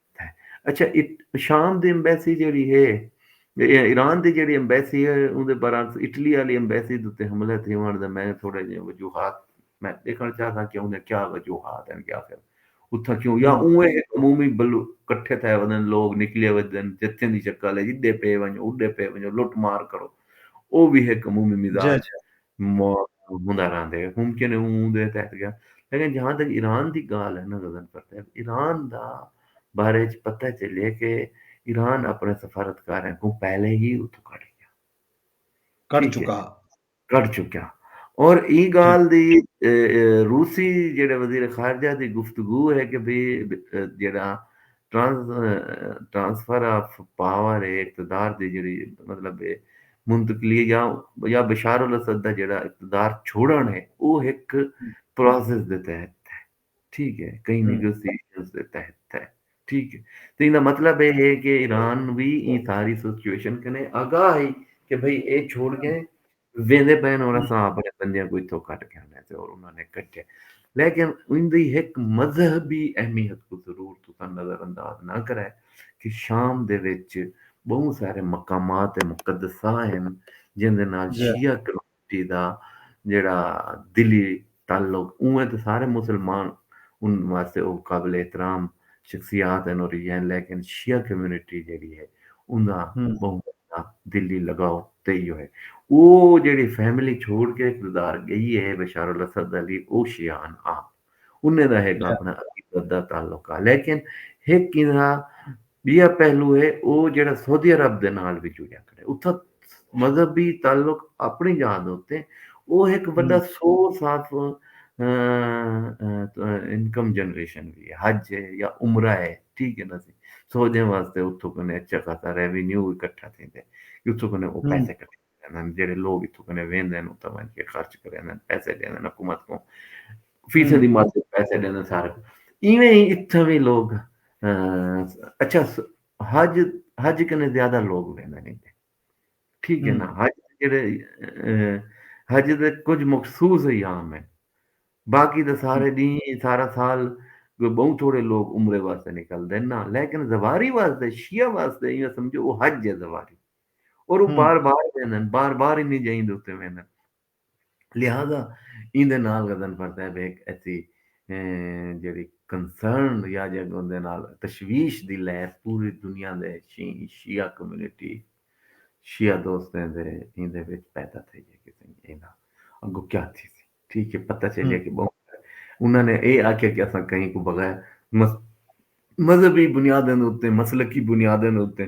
اچھا شام دی ایمبیسی جیڑی ہے ایران دی جیڑی ایمبیسی ہے اون دے برعکس اٹلی والی ایمبیسی تے حملہ تھیوݨ دا میں تھوڑے جے وجوہات میں دیکھݨ چاہساں کہ اون دے کیا وجوہات ہیں کہ آخر اتھا کیوں یا اون ایک عمومی بل اکٹھے تھے ودن لوگ نکلے ودن جتھے دی شکل ہے جدے پے ونجو اڈے پے ونجو لٹ مار کرو او بھی ایک عمومی مزاج جی جی۔ ہوندا رہندے ممکن ہے اوں دے تحت گیا لیکن جہاں تک ایران دی گال ہے نا غزن کرتے ہیں ایران دا بارے چ پتہ چلے کہ ایران اپنے سفارتکاریں کو پہلے ہی اتو کٹ گیا کٹ چکا کٹ چکا اور ای گال دی روسی جڑے وزیر خارجہ دی گفتگو ہے کہ بھی جڑا ٹرانسفر آف پاور اے اقتدار دی جیڑھی مطلب اے منتقلی اے یا یا بشار الاسد دا جیڑھا اقتدار چھوڑن اے او ہک پروسیس دے تحت اے ٹھیک اے کہیں نیگوسیشنز دے تحت اے ٹھیک اے تے ایندا مطلب اے ہے کہ ایران وی ایں ساری سچویشن کنے آگاہ ہئی کہ بھئی اے چھوڑ گئے ویندے پئن اور اساں اپنے بندیاں کو اتھوں کٹ کے آنے تے اور انہاں نے کٹے لیکن اوندی ہک مذہبی اہمیت کو ضرور تساں نظر انداز نہ کرے کہ شام دے وچ بہوں سارے مقامات مقدسہ ہیں جن دے نال شیعہ کمیونٹی دا جڑا دلی تعلق اونویں تاں سارے مسلمان ان واسطے او قابل احترام شخصیات ہن اور یہ ہیں لیکن شیعہ کمیونٹی جیڑی ہے اندا بہوں وڈا دلی لگاؤ تے ایہو ہے او جیڑی فیملی چھوڑ کے کردار گئی ہے بشار الاسد علی او شیعہ ہن آپ انہیں دا ہک اپنا عقیدت دا تعلق ہے لیکن ہک اندا ٻیا پہلو ہے او جیڑھا سعودی عرب دے نال وی جڑیا کھڑے اتھاں مذہبی تعلق اپنی جاہ دے اتے او ہک وݙا سورس آف انکم جنریشن وی ہے حج ہے یا عمرہ ہے ٹھیک ہے نا سی سعودیاں واسطے اتھوں کنے اچھا خاصا ریونیو اکٹھا تھیندے اتھوں کنے او پیسے کٹھے کریندن جیڑھے لوگ اتھوں کنے ویندن اتھاں ونج کے خرچ کریندن پیسے ڈیندن حکومت کوں فیسیں دی مدد پیسے ڈیندن سارے کوں ایویں ہی اتھاں وی لوگ اچھا حج حج کنے زیادہ لوگ ویندن ٹھیک ہے نا حج جیڑھے حج دے کچھ مخصوص ایام ہیں باقی دے سارے دی سارا سال کوئی بہت تھوڑے لوگ عمرے واسطے نکل دین نا لیکن زواری واسطے شیعہ واسطے یہ سمجھو وہ حج ہے زواری اور او بار بار ویندن بار بار انہیں جائیں دے اتے ویندن لہذا این دے نال غزن پر صاحب ایک ایسی جیڑی کنسرن یا جگ ان دے نال تشویش دی لہر پوری دنیا دے شیعہ کمیونٹی شیعہ دوستیں دے این دے وچ پیدا تھے جائے کہ این دا اگو کیا تھی تھی ٹھیک ہے پتہ چلے کہ بہت انہوں نے اے آکھے کہ اساں کہیں کو بغیر مذہبی بنیادیں دے اتے مسلکی بنیادیں دے اتے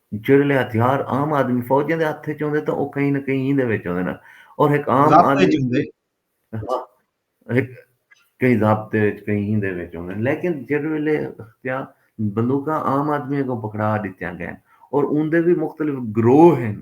جیڑھلے ہتھیار عام آدمی فوجیں دے ہتھ وچ ہوندے تاں او کہیں نہ کہیں ایندے وچ ہوندے نا اور ہک عام ضابطے آدمی وچ ہوندے ہاں ہک کہیں ضابطے وچ کہیں ایندے وچ ہوندے لیکن جیڑھلے ہتھیار بندوقاں عام آدمی اگوں پکڑا ڈتیاں گئن اور اوندے وی مختلف گروہ ہن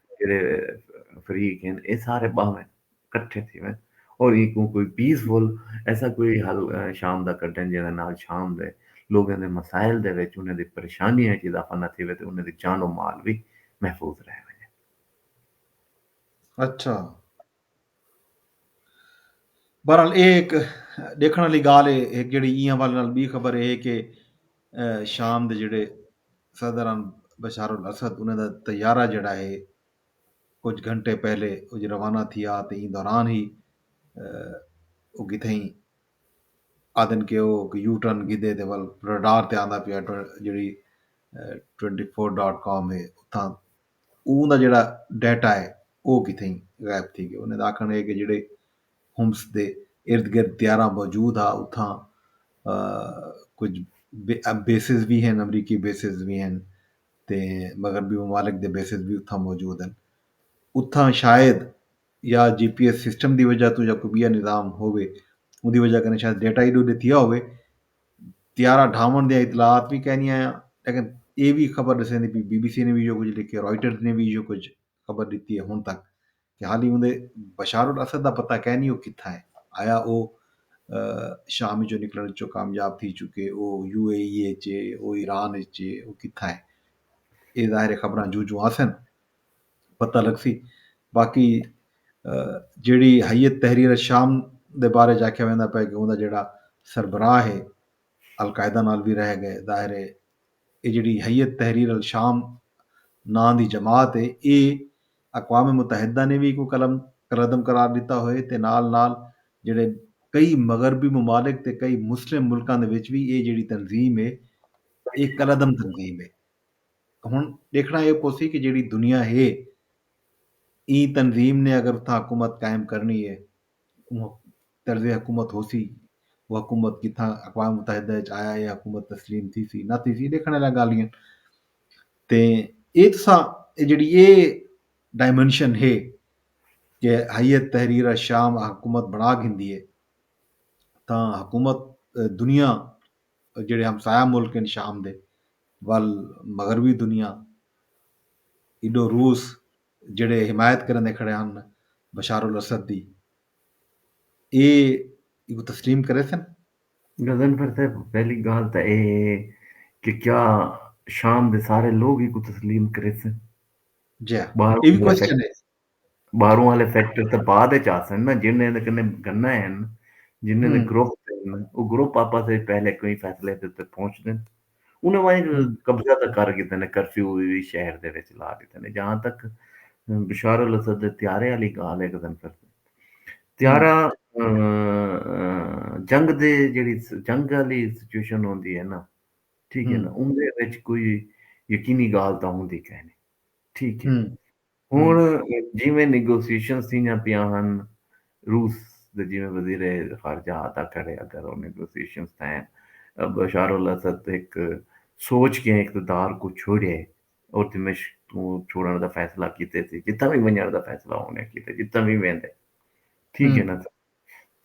جیڑھے فریق ہن اے سارے ٻاہون کٹھے تھیون اور اینکوں کوئی پیس فل ایسا کوئی حل شام دا کڈھن جیڑھے نال شام دے لوگاں دے مسائل دے وچ انہاں دی پریشانیاں وچ اضافہ نہ تھیوے تے انہاں دی جان و مال وی محفوظ رہ ونجے۔ اچھا بہرحال ایہ ہک ݙیکھݨ آلی ڳالھ ہے ہک جیڑھی ایں حوالے نال ٻی خبر ایہ ہے کہ شام دے جیڑھے صدر ہن بشار الاسد انہاں دا طیارہ جیڑھا ہے کجھ گھنٹے پہلے اڄ روانہ تھیا تے ایں دوران ہی او کتھائیں آہدن کہ او یو ٹرن گھدے تے ول رڈار تے آندا پیا جیڑھی ٹوئنٹی فور ڈاٹ کام ہے اتھاں اوں دا جیڑھا ڈیٹا ہے او کتھئیں غائب تھی گئے انہاں دا آکھݨ ہے کہ جیڑھے حمص دے ارد گرد طیارہ موجود ہا اتھاں کجھ بیسز وی ہن امریکی بیسز وی ہن تے مغربی ممالک دے بیسز وی اتھاں موجود ہن اتھاں شاید یا جی پی ایس سسٹم دی وجہ توں یا کوئی بیا نظام ہووے اوندی وجہ کنے شاید ڈیٹا ایڈو ڈتھیا ہووے طیارہ ڈھاونڑ دیاں اطلاعات وی کائنی آیاں لیکن اے وی خبر ڈسیندی پی بی بی سی نے وی ایہو کچھ لکھیا رائٹرز نے وی ایہو کچھ خبر ڈتی ہے ہن تک کہ حالی اوندے بشار الاسد دا پتہ کائنی او کتھاں ہے آیا او شام وچوں نکلن وچوں کامیاب تھی چکے او یو اے ای اچ او ایران اچ او کتھاں ہے اے ظاہر خبراں جوں جوں آسن پتہ لگسی باقی جیڑھی ہیئت تحریر شام دے بارے اچ آکھیا ویندا پئے کہ اوندا جیڑھا سربراہ ہے القاعدہ نال وی رہ گئے ظاہر ہے اے جیڑھی ہیئت تحریر الشام ناں دی جماعت ہے اے اقوام متحدہ نے وی کوئی قلم قلعدم قرار ڈتا ہوئے تے نال نال جیڑھے کئی مغربی ممالک تے کئی مسلم ملکاں دے وچ وی اے جیڑھی تنظیم ہے اے قلعدم تنظیم ہے۔ ہݨ ݙیکھݨا اے پوسی کہ جیڑھی دنیا ہے ایں تنظیم نے اگر اتھاں حکومت قائم کرݨی اے اوں طرز حکومت ہوسی او حکومت جتھاں اقوام متحدہ اچ آیا اے حکومت تسلیم تھیسی نہ تھیسی اے ݙیکھݨ آلیاں ڳالھ ہین تے اے تساں اے جیڑھی اے ڈائمنشن ہے کہ حیت تحریر الشام حکومت بݨا گھندی اے تاں حکومت دنیا جیڑھے ہمسایہ ملک ہن شام دے ول مغربی دنیا ایڈو روس جیڑھے حمایت کریندے کھڑے ہن بشار الاسد دی اے ایکوں تسلیم کریسن؟ غضنفر صاحب پہلی گالھ تاں اے ہے کہ کیا شام دے سارے لوگ ایکوں تسلیم کریسن؟ جی ہاں اے وی کوسچن ہے۔ باہروں آلے فیکٹر تاں بعد اچ آسن نا جنہیں دے کنے گنہ ہن جنہیں دے گروپ ہن او گروپ آپس اچ پہلے کوئی فیصلے تے تے پہنچ دن انہیں وائیں قبضہ تاں کر گیتے نے کرفیو وی شہر دے وچ لا گیتے نے جہاں تک بشار الاسد دے تیارے آلی گال ہے گزن کر تیارہ جنگ دے جڑی جنگ آلی سچویشن ہوندی ہے نا ٹھیک ہے نا ان دے وچ کوئی یقینی گال تاں ہوندی کہنے ٹھیک ہے ہݨ جیویں نیگوسیشنز تھیندیاں پیاں ہن، روس دے جیویں وزیر خارجہ آتا کھڑے اگر او نیگوسیشنز تھئین تاں بشار الاسد ہک سوچ کے اقتدار کوں چھوڑے او دمشق توں چھوڑݨ دا فیصلہ کیتے سی جتھاں وی ونڄݨ دا فیصلہ اونے کیتے جتھاں وی ویندے ٹھیک ہے نا سر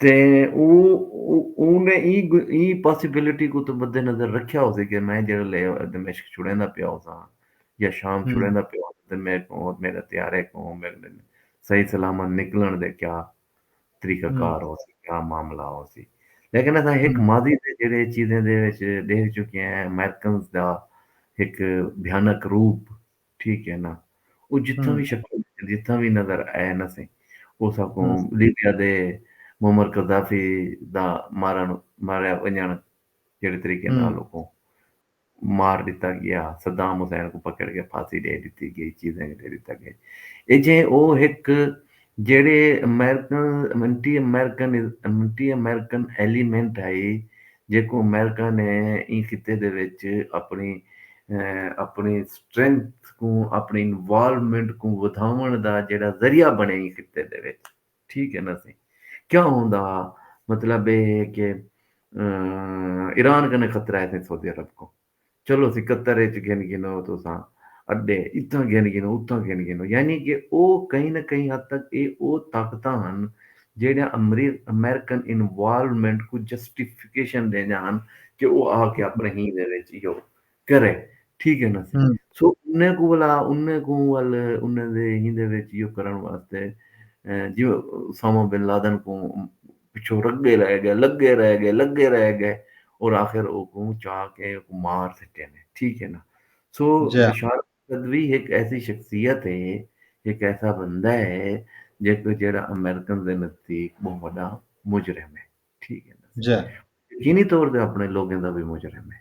تے اونے ایں پاسیبلٹی کوں تاں مد نظر رکھیا ہوسی کہ میں جیڑھے لے دمشق چھڑیندا پیا ہوساں یا شام چھڑیندا پیا ہوساں تے میڈے کوں اور میڈے طیارے کوں صحیح سلامت نکلنڑ دے کیا طریقہ کار ہوسی کیا معاملہ ہوسی لیکن اساں ہک ماضی دے جیڑھے چیزیں دے وچ ڈیکھ چکے ہیں امریکنز دا ہک بھیانک روپ ٹھیک ہے نا او جتھاں وی شکل جتھاں وی نظر آئے نا سیں او ساکوں لیبیا دے معمر قذافی دا مارن ماریا ونجن جیڑے طریقے نال اوکوں مار ڈتا گیا صدام حسین کوں پکڑ کے پھانسی ڈے ڈتی گئی چیزیں ڈے ڈتا گئی اے جے او ہک جیڑھے American anti American anti American element ہئی جیکوں امریکہ نے ایں خطے دے وچ اپݨی اپݨی سٹرینگتھ کوں اپݨی انوالومنٹ کوں ودھاوݨ دا جیڑھا ذریعہ بݨے ایں خطے دے وچ ٹھیک ہے نا سئیں کیا ہوندا ہا مطلب اے ہے کہ ایران کنے خطرہ ہے سئیں سعودی عرب کوں چلو سکتر اچ گھن گھنو تساں اڈے اتھاں گھن گھنو اتھاں گھن گھنو یعنی کہ او کہیں نہ کہیں حد تک اے او طاقتاں ہن جیڑھیاں امریکن انوالومنٹ کوں جسٹیفیکیشن ڈیندیاں ہن کہ او آ کے اپنے ہی دے وچ ایہو کرے ٹھیک ہے نا سو انہیں کوں ولا انہیں کوں ول انہیں دے ہی دے وچ ایہو کرن واسطے جیوں اسامہ بن لادن کوں پچھوں رڳے رہ ڳئے، لڳے رہ ڳئے، لڳے رہ ڳئے اور آخر اوکوں چا کے اوکوں مار سٹے نے ٹھیک ہے نا سو بشارت قدوی ہک ایسی شخصیت ہے ہک ایسا بندہ ہے جیکو جیڑا امریکن دے نزدیک بہوں وݙا مجرم ہے ٹھیک ہے نا یقینی طور تے اپݨے لوگیں دا وی مجرم ہے۔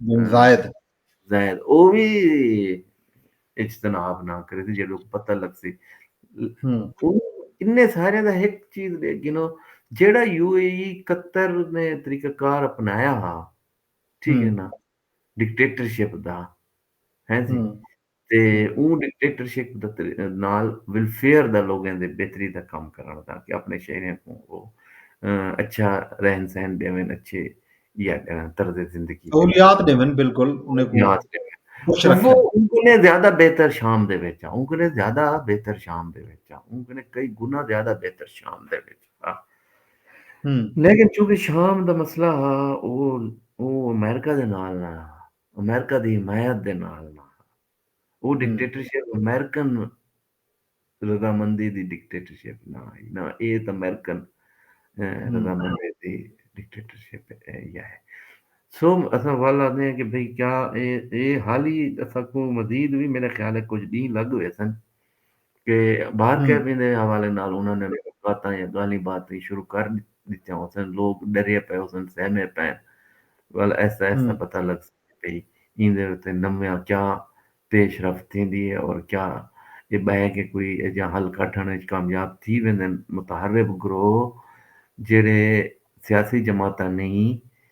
بن زائد زائد او وی اجتناب نہ کرے سی جیڑو پتہ لگ سی انہیں سارے دا ایک چیز دے گنو جیڑا یو اے ای قطر نے طریقہ کار اپنایا ہا ٹھیک ہے نا ڈکٹیٹرشپ دا ہیں جی تے اوں ڈکٹیٹرشپ دا نال ویلفیئر دا لوگیں دے بہتری دا کم کرݨ تاکہ اپݨے شہریاں کوں او اچھا رہن سہن ݙیون اچھے یا طرز زندگی سہولیات ݙیون بالکل انہیں سہولیات ݙیون خوش رکھن وہ ان کو نے زیادہ بہتر شام دے وچ ان کو نے زیادہ بہتر شام دے وچ ان کو نے کئی گنا زیادہ بہتر شام دے وچ لیکن چونکہ شام دا مسئلہ ہا وہ وہ امریکہ دے نال نہ امریکہ دی حمایت دے نال نہ ہا۔ او ڈکٹیٹرشپ امریکن رضامندی دی ڈکٹیٹرشپ نہ ہئی نہ اے ات امریکن رضامندی دی ڈکٹیٹرشپ یا ہے۔ سو اساں ول آندے ہیں کہ بھئی کیا اے حالی اساکوں مزید وی میرے خیال ہے کجھ ڈینہہ لگ ویسن۔ کہ بار کیبن دے حوالے نال انہاں نے ملاقاتاں یا گالھیں باتیں شروع کر ڈتیاں ہوسن، لوگ ڈرے پئے ہوسن، سہمے پئے ہن، گالھ آہستہ آہستہ پتہ لگ سگدی پئی ایں دے اتے نویاں کیا پیش رفت تھیندی ہے اور کیا ایہ بہہ کے کوئی ایجھا حل کڈھن اچ کامیاب تھی ویندن، متحرب گروہ جیہڑے سیاسی جماعتاں نہیں،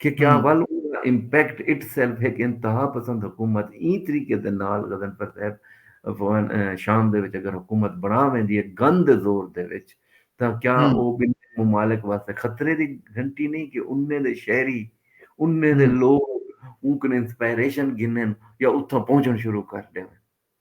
کہ کیا ول اوں دا امپیکٹ اٹ سیلف ہک انتہا پسند حکومت ایں طریقے دے نال غضنفر صاحب شام دے وچ اگر حکومت بنا ویندی ہے گن دے زور دے وچ تاں کیا او بن ممالک واسطے خطرے دی گھنٹی نہیں کہ انہیں دے شہری انہیں دے لوگ اونکنے انسپائریشن گھنن یا اتھاں پہنچن شروع کر ڈیون۔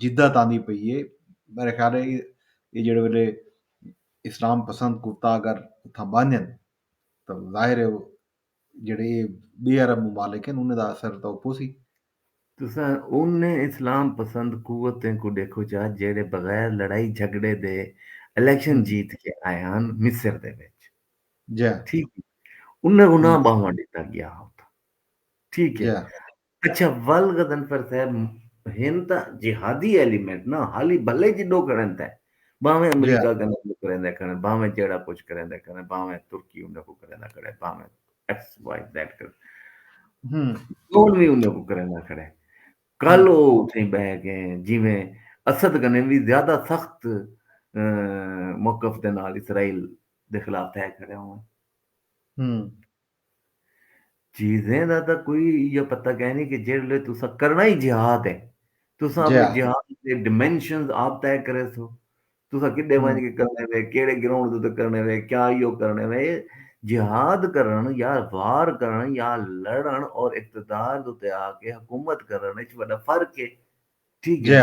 جدت آندی پئی ہے میرے خیال ہے یہ جڑے ویلے اسلام پسند کتا اگر اتھاں بانجن تو ظاہر ہے جڑے بے عرب ممالک ہیں انہیں دا اثر تو پوسی تساں انہیں اسلام پسند قوتیں کو ڈیکھو چا جڑے بغیر لڑائی جھگڑے دے الیکشن جیت کے آئے ہن مصر دے وچ ٹھیک انہیں انہاں باہواں ڈتا گیا اتھاں ٹھیک ہے۔ اچھا ول غضنفر صاحب ہن تاں جہادی ایلیمنٹ نا حالی بھلے جڈو کھڑن تاں بھاویں امریکہ کنے کچھ کریندے کھڑن بھاویں جیڑا کچھ کریندے کھڑن بھاویں ترکی انہاں کوں کریندہ کھڑے بھاویں ایکس وائی زیڈ کر کون وی انہاں کوں کریندہ کھڑے کل او اتھیں بہ کے جویں اسد کنے وی زیادہ سخت موقف دے نال اسرائیل دے خلاف تھے کھڑے ہوں چیزیں دا تاں کوئی ایہا پتہ کائنی کہ جیڑھے لے تساں کرݨا ای جہاد اے تساں اپݨے جہاد دے ڈیمنشنز آپ طے کریسو تساں کݙے ونڄ کے کرݨے وے کیڑھے گراؤنڈ دے اتے کرݨے وے کیا ایہو کرݨے وے جہاد کرݨ یا وار کرݨ یا لڑݨ اور اقتدار دے اتے آ کے حکومت کرݨ اچ وݙا فرق اے ٹھیک اے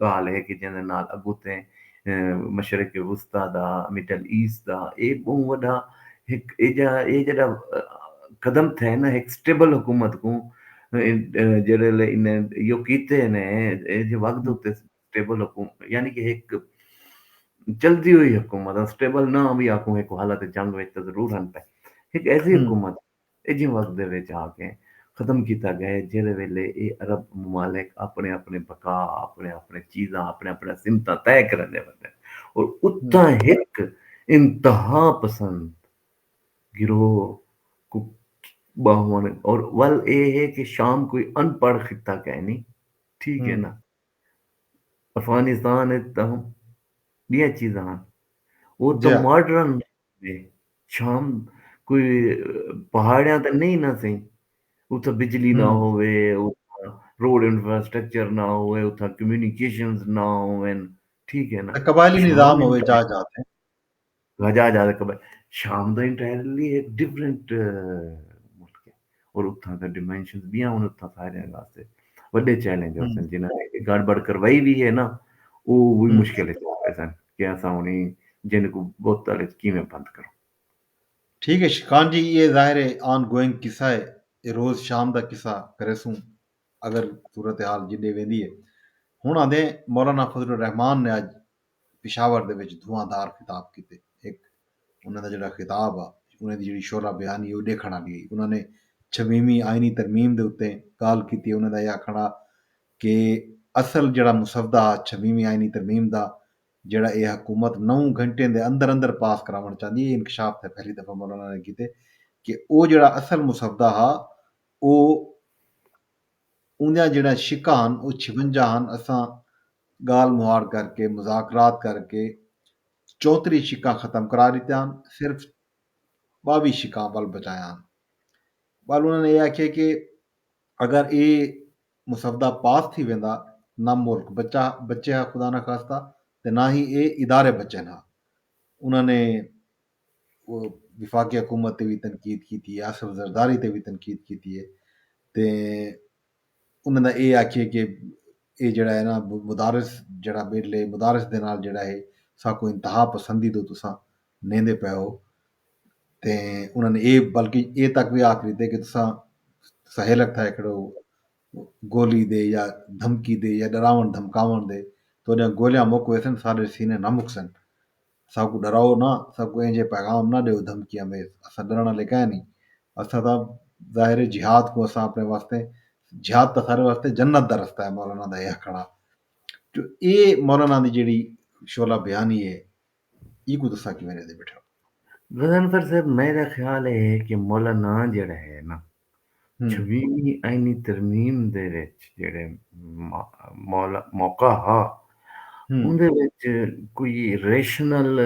ڳالھ اے کہ جیندے نال اڳوتے مشرق وسطی دا، مڈل ایسٹ دا اے ٻہوں وݙا ہک ایجھا اے جیڑھا قدم تھئے نا ہک سٹیبل حکومت کوں جیڑھے لے انھیں ایہو کیتے نے ایجھے وقت اتے سٹیبل حکومت یعنی کہ ہک چلدی ہوئی حکومت سٹیبل نہ وی آکھوں ہک حالت جنگ وچ تاں ضرور ہن پئے ہک ایسی حکومت ایجھے وقت دے وچ آ کے ختم کیتا گئے جیڑھے ویلے ایہ عرب ممالک آپݨے آپݨے بقا، آپݨے آپݨے چیزاں، آپݨے آپݨے سمتاں طے کریندے ویندن اور اتھاں ہک انتہا پسند گروہ کوں ٻاہوݨ اور ول ایہ ہے کہ شام کوئی ان پڑھ خطہ کائنی ٹھیک ہے نا افغانستان وچ تاں ٻیاں چیزاں ہن او تاں ماڈرن جی شام کوئی پہاڑیاں تے نہیں نہ سہی اتھا بجلی نہ ہوے اتھا روڈ انفراسٹرکچر نہ ہوے اتھا کمیونیکیشنز نہ ہوون ٹھیک ہے نا قبائلی نظام ہوے جا جا تے جا جا قبائل شام دا انٹائرلی ایک ڈیفرنٹ اور اتھاں دا ڈیمنشنز بیاں ہن اتھاں سارے واسطے وڈے چیلنج ہوسن جنہاں نے گڑ بڑ کروائی بھی ہے نا او وہی مشکل ہے سن کہ اساں ہن جن کو بہت تڑے کیویں بند کروں ٹھیک ہے شکان جی یہ ظاہر ہے آن گوئنگ قصہ ہے یہ روز شام دا قصہ کرے سوں اگر صورتحال جڈے ویندی ہے ہن آندے مولانا فضل الرحمان نے اج پشاور دے وچ دھواں دار خطاب کیتے۔ ہک انہاں دا جیڑھا خطاب ہا، انہاں دی جیڑھی شعلہ بیانی ہئی او ݙیکھݨ آلی ہئی۔ انہاں نے چھویہویں آئینی ترمیم دے اتے ڳالھ کیتی۔ انہاں دا ایہ آکھݨ ہا کہ اصل جیڑھا مسودہ ہا چھویہویں آئینی ترمیم دا جیڑھا ایہ حکومت نو گھنٹیں دے اندر اندر پاس کراوݨ چاہندی ہئی، انکشاف تھئے پہلی دفعہ مولانا نے کیتے کہ او جیڑھا اصل مسودہ ہا او اوندیاں جیڑھیاں شقاں ہن او چھونجا ہن اساں گالھ مہاڑ کر کے مذاکرات کر کے چوتری شقاں ختم کرا ڈتیاں ہن صرف باوی شقاں ول بچایاں ہن ول انہاں نے اے آکھیا کہ اگر اے مسودہ پاس تھی ویندا نہ ملک بچا بچے ہا خدا نخواستہ تے نہ ہی اے ادارے بچن ہا انہاں نے وفاقی حکومت تے وی تنقید کیتی ہے آصف زرداری تے وی تنقید کیتی ہے تے انہاں دا اے آکھیے کہ اے جیڑا ہے نا مدارس جیڑا بل ہے مدارس دے نال جیڑا ہے ساکوں انتہا پسندی دو تساں نیندے پئے ہو تے انہاں نے اے بلکہ اے تک وی آکھ ڈتے کہ تساں تساں ہیلک تھائے کھڑو گولی دے یا دھمکی دے یا ڈراون دھمکاون دے تہاڈیاں گولیاں مک ویسن ساڈے سینے نہ مکسن اساکوں ݙراؤ نہ، اساکوں اینجھے پیغام نہ ݙیؤ دھمکیاں دے، اساں ݙرݨ آلے کائے نھیں، اساں تاں ظاہر ہے جہاد کوں اساں آپݨے واسطے جہاد تاں سارے واسطے جنت دا رستہ ہے مولانا دا اے آکھݨ ہا جو اے مولانا دی جیڑھی شعلہ بیانی ہے اینکوں تساں کیویں ݙیندے ٻیٹھے ہو۔ غضنفر صاحب میݙا خیال اے ہے کہ مولانا جیڑھا ہے نہ چھویہویں آئینی ترمیم دے وچ جیڑھے موقع ہا اوندے وچ کوئی ریشنل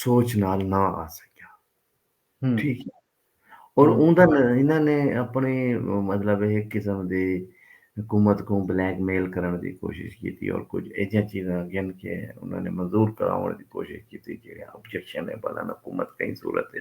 سوچ نال نہ آ سکیا ٹھیک ہے اور اوندا انہاں نے اپنے مطلب ایک قسم دی حکومت کو بلیک میل کرن دی کوشش کیتی اور کچھ ایجا چیزاں گن کے انہاں نے منظور کراون دی کوشش کیتی جیڑے آبجیکشن ہے بلان حکومت کئی صورت ہے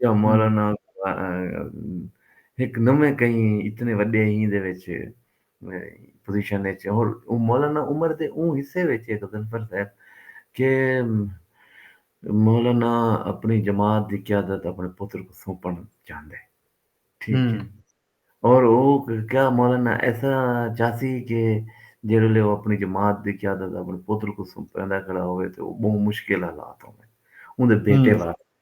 یا مولانا ہک نویں کہیں اتنے وڈے ہی دے وچ پوزیشن وچ اور مولانا عمر دے اون حصے وچ ہے غضنفر صاحب کہ مولانا اپنی جماعت دی قیادت اپنے پتر کو سونپن چاہندے ٹھیک ہے اور او کیا مولانا ایسا چاہتی کہ جڑے لے وہ اپنی جماعت دی قیادت اپنے پتر کو سونپندا کھڑا ہوئے تو وہ بہت مشکل حالات ہوئے اون دے بیٹے واسطے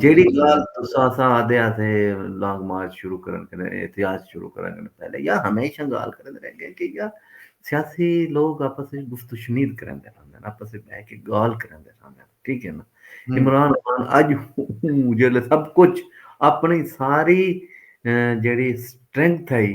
جیڑی گال تسا سا آدھے آتے لانگ مارچ شروع کرن کرنے احتیاج شروع کرن کرنے پہلے یا ہمیشہ گال کرن رہے گئے کہ یا سیاسی لوگ آپس سے گفت و شنید کرن دے رہن دے آپس سے بہ کے گال کرن دے رہن دے ٹھیک ہے نا عمران خان اج ہوں جیڑے سب کچھ اپنی ساری جیڑی سٹرنگ تھائی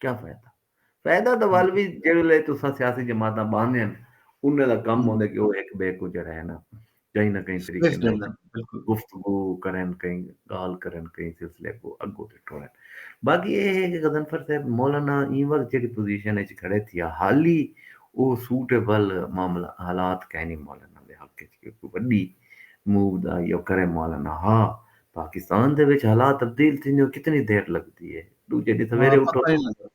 کیا فائدہ فائدہ دا ول بھی جیڑے تسا سیاسی جماعتاں باندھے ہیں انہیں دا کم ہوندے کہ وہ ایک بے کو جڑا ہے نا کہیں نہ کہیں طریقے نال گفتگو کریں کہیں گال کریں کہیں سلسلے کو اگو تے ٹورن باقی یہ ہے کہ غزنفر صاحب مولانا این وقت جیڑی پوزیشن اچ کھڑے تھیا حالی او سوٹیبل معاملہ حالات کہیں نہیں مولانا دے حق اچ کہ کوئی بڑی موو دا یا کرے مولانا ہا پاکستان دے وچ حالات تبدیل تھیندیوں کتنی دیر لگدی ہے ݙوجھے ݙینہہ سویرے اٹھو تاں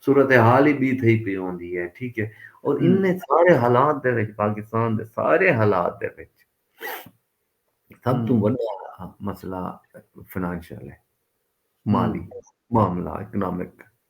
صورتحال ہی ٻی تھئی پئی ہوندی ہے ٹھیک ہے اور انہیں سارے حالات دے وچ پاکستان دے سارے حالات دے وچ سب توں وݙا مسئلہ فنانشل ہے مالی معاملہ اکنامک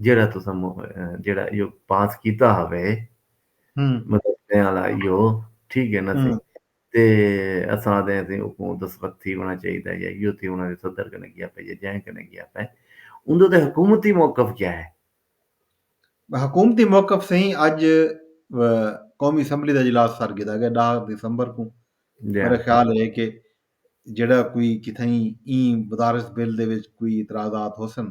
جیڑھا تساں جیڑھا ایہو پاس کیتا ہوے مدرسے والا ایہو ٹھیک ہے نا سی تے اساں آدھے ہیں حکومت اس وقت تھی ہونا چاہیے تھا یا ایہو تھی ہونا صدر کنے گیا پہ یا جائیں کنے گیا پہ اندر تے حکومتی موقف کیا ہے حکومتی موقف سے ہی اج قومی اسمبلی دا اجلاس سر گدا گیا ڈاہ دسمبر کو جی۔ میرا خیال ہے کہ جڑا کوئی کتھائیں این بدارس بل دے وچ کوئی اعتراضات ہو سن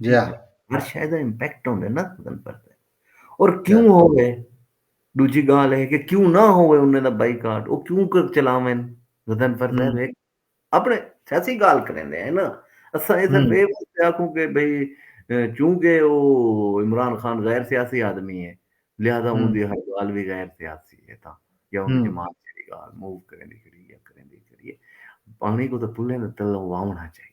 جا ہر شے دا امپیکٹ ہوندے نا تن پتہ اور کیوں ہوے دوجی گال ہے کہ کیوں نہ ہوے انہاں دا بائی کارڈ او کیوں کر چلاون تن پتہ ہے اپنے سیاسی گال کریندے ہیں نا اساں اے سب اے بات آکھوں کہ بھئی چونکہ او عمران خان غیر سیاسی آدمی ہے لہذا اون دی ہر گال بھی غیر سیاسی ہے تا یا اون دی جماعت دی گال موو کریندی کریندی کریندی پانی کو تو پلے تے تلوں واونا چاہیے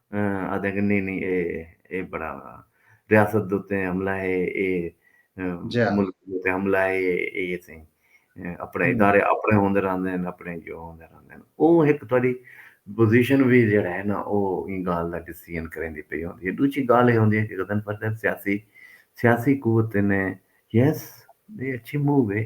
آہدن کہ نی نی اے بڑا ریاست دے اتے حملہ ہے اے ملک دے اتے حملہ ہے اے اسیں اپنے ادارے اپنے ہوندے رہندے ہن اپنے جو ہوندے رہندے ہن او ہک تہاڈی پوزیشن وی جیڑا ہے نا او ایں گالھ دا ڈسیژن کریندی پئی ہوندی ہے ڈوجھی گالھ اے ہوندی ہے کہ غضنفر صاحب سیاسی سیاسی قوت نے یس اے اچھی موو اے۔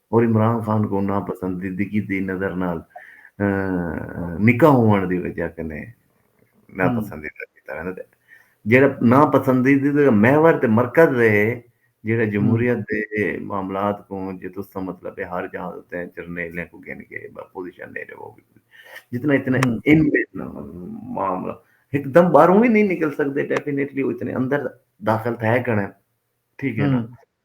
اور عمران خان کوں ناپسندیدگی دی نظر نال نکا ہووݨ دی وجہ کنے ناپسندیدہ کیتا ویندا تے جیڑھا ناپسندیدگی دا محور تے مرکز ہے جیڑھا جمہوریت دے معاملات کوں جے تس دا مطلب ہے ہر جاہ اتے جرنیلیں کوں گھن کے پوزیشن ݙے ݙیوو جتنا اتنا ان معاملہ ہک دم باہروں وی نئیں نکل سکدے ڈیفینیٹلی اتنے اندر داخل تھے کنے ٹھیک ہے نا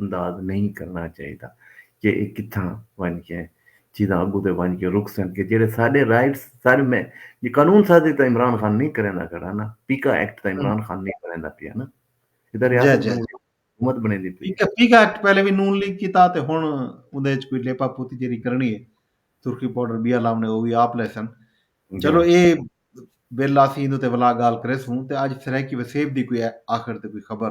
انداز نئیں کرݨا چاہیدا کہ اے کتھاں ونڄ کے چیزاں اڳوں تے ونڄ کے رک سن کہ جیڑھے ساݙے رائٹس ساݙے میں جی قانون سازی تاں عمران خان نئیں کریندا کھڑا نا پیکا ایکٹ تاں عمران خان نئیں کریندا پیا نا اے تاں ریاست نون لیگ حکومت بݨیندی پئی اے پیکا ایکٹ پہلے وی نون لیگ کیتا تے ہݨ اوندے اچ کوئی لیپا پوتی جیڑھی کرݨی اے سرخی پاؤڈر ٻیا لاوݨے او وی آپ لیسن چلو اے بل آسی ایندے تے ولا ڳالھ کریسوں تے اڄ سرائیکی وسیب دی کوئی آخر تے کوئی خبر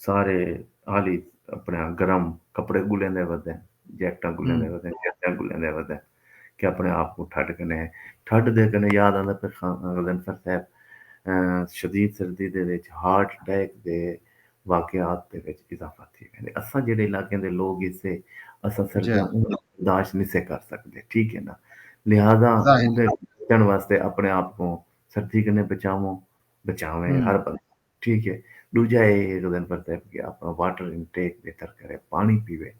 سارے آلی اپنے گرم کپڑے گلیں دے ودے جیکٹاں گلیں دے ودے جیکٹاں گلیں دے ودے کہ اپنے آپ کو ٹھڈ کنے ہیں ٹھڈ دے کنے یاد آندہ پہ غزنفر صاحب شدید سردی دے وچ ہارٹ اٹیک دے واقعات دے وچ اضافہ تھی گئے اساں جڑے علاقے دے لوگ اس سے اساں سردیاں جی۔ برداشت نہیں سے کر سکتے ٹھیک ہے نا لہذا بچن واسطے اپنے آپ کو سردی کنے بچاؤں بچاویں ہر بندہ ٹھیک ہے ݙوجھا اے ہے جو گن پرتا ہے کہ اپݨا واٹر انٹیک بہتر کرے پاݨی پیوے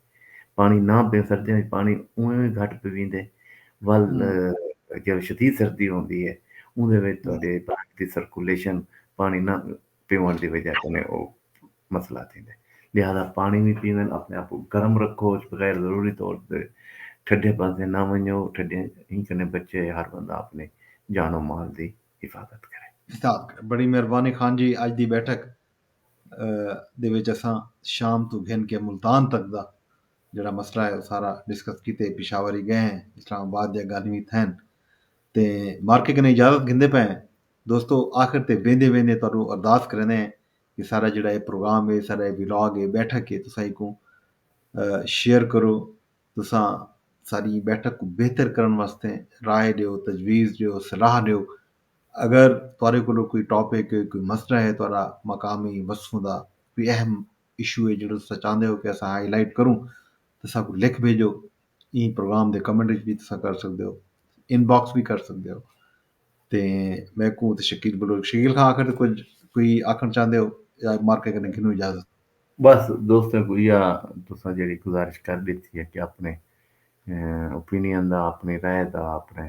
پاݨی نہ پئے سردیاں وچ پاݨی اونویں وی گھٹ پیویندے ول جیڑی شدید سردی ہوندی ہے اوندے وچ تہاݙے بلڈ دی سرکولیشن پاݨی نہ پیوݨ دی وجہ کنے او مسئلہ تھیندے لہذا پاݨی وی پیوݨ اپݨے آپ کوں گرم رکھو غیر ضروری طور تے ٹھڈے پاسے نہ ونڄو ٹھڈے ایں کنے بچے ہر بندہ اپݨی جان و مال دی حفاظت کرے۔ خطاب کرے۔ بڑی مہربانی خان جی اج دی بیٹھک دے وچ اساں شام توں گھن کے ملتان تک دا جیڑھا مسئلہ ہے او سارا ڈسکس کیتے پشاور ہی گئے ہیں اسلام آباد دیاں گالھیں وی تھین تے مارکے کنے اجازت گھندے پئے ہیں دوستو آخر تے ویندے ویندے تہاڈو ارداس کریندے ہیں کہ سارا جیڑھا اے پروگرام اے سارا اے ولاگ اے بیٹھک اے تساں ایکوں شیئر کرو تساں ساݙی ایں ٻیٹھک کوں بہتر کرݨ واسطے رائے ݙیو، تجویز ݙیو، صلاح ݙیو۔ اگر تہاݙے کولوں کوئی ٹاپک ہے، کوئی مسئلہ ہے، تہاݙا مقامی وصفوں دا کوئی اہم ایشو ہے جیڑھا تساں چاہندے ہو کہ اساں ہائی لائٹ کروں تاں اساکوں لکھ بھیڄو۔ ایں پروگرام دے کمنٹ وچ وی تساں کر سڳدے ہو۔ ان باکس وی کر سڳدے ہو۔ تے میکوں تے شکیل بلوچ شکیل خان آکھن تے کچھ کوئی آکھن چاہندے ہو یا مارکے کنے گھنوں اجازت بس دوستاں کو یا تساں جڑی گزارش کر ڈیتی ہے کہ اپنے اوپینین دا اپنی رائے دا اپنے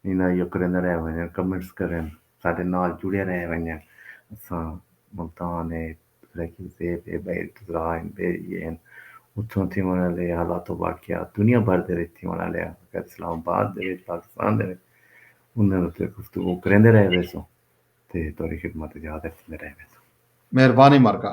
اینا یو کریندے رہ ونجن کمنٹس کرن ساڈے نال جڑے رہ ونجن اساں ملتان اے لیکن تے بے بئے ارتضاع ہن، بے یہ ہن۔ اتھوں تھیوݨ آلے حالات و واقعات دنیا بھر دے وچ تھیوݨ آلے ہن۔ اگر اسلام آباد دے وچ، پاکستان دے وچ انہاں اتے گفتگو کریندے رہ ویسوں تے تہاݙی خدمت وچ حاضر تھیندے رہ ویسوں۔ مہربانی مرکا۔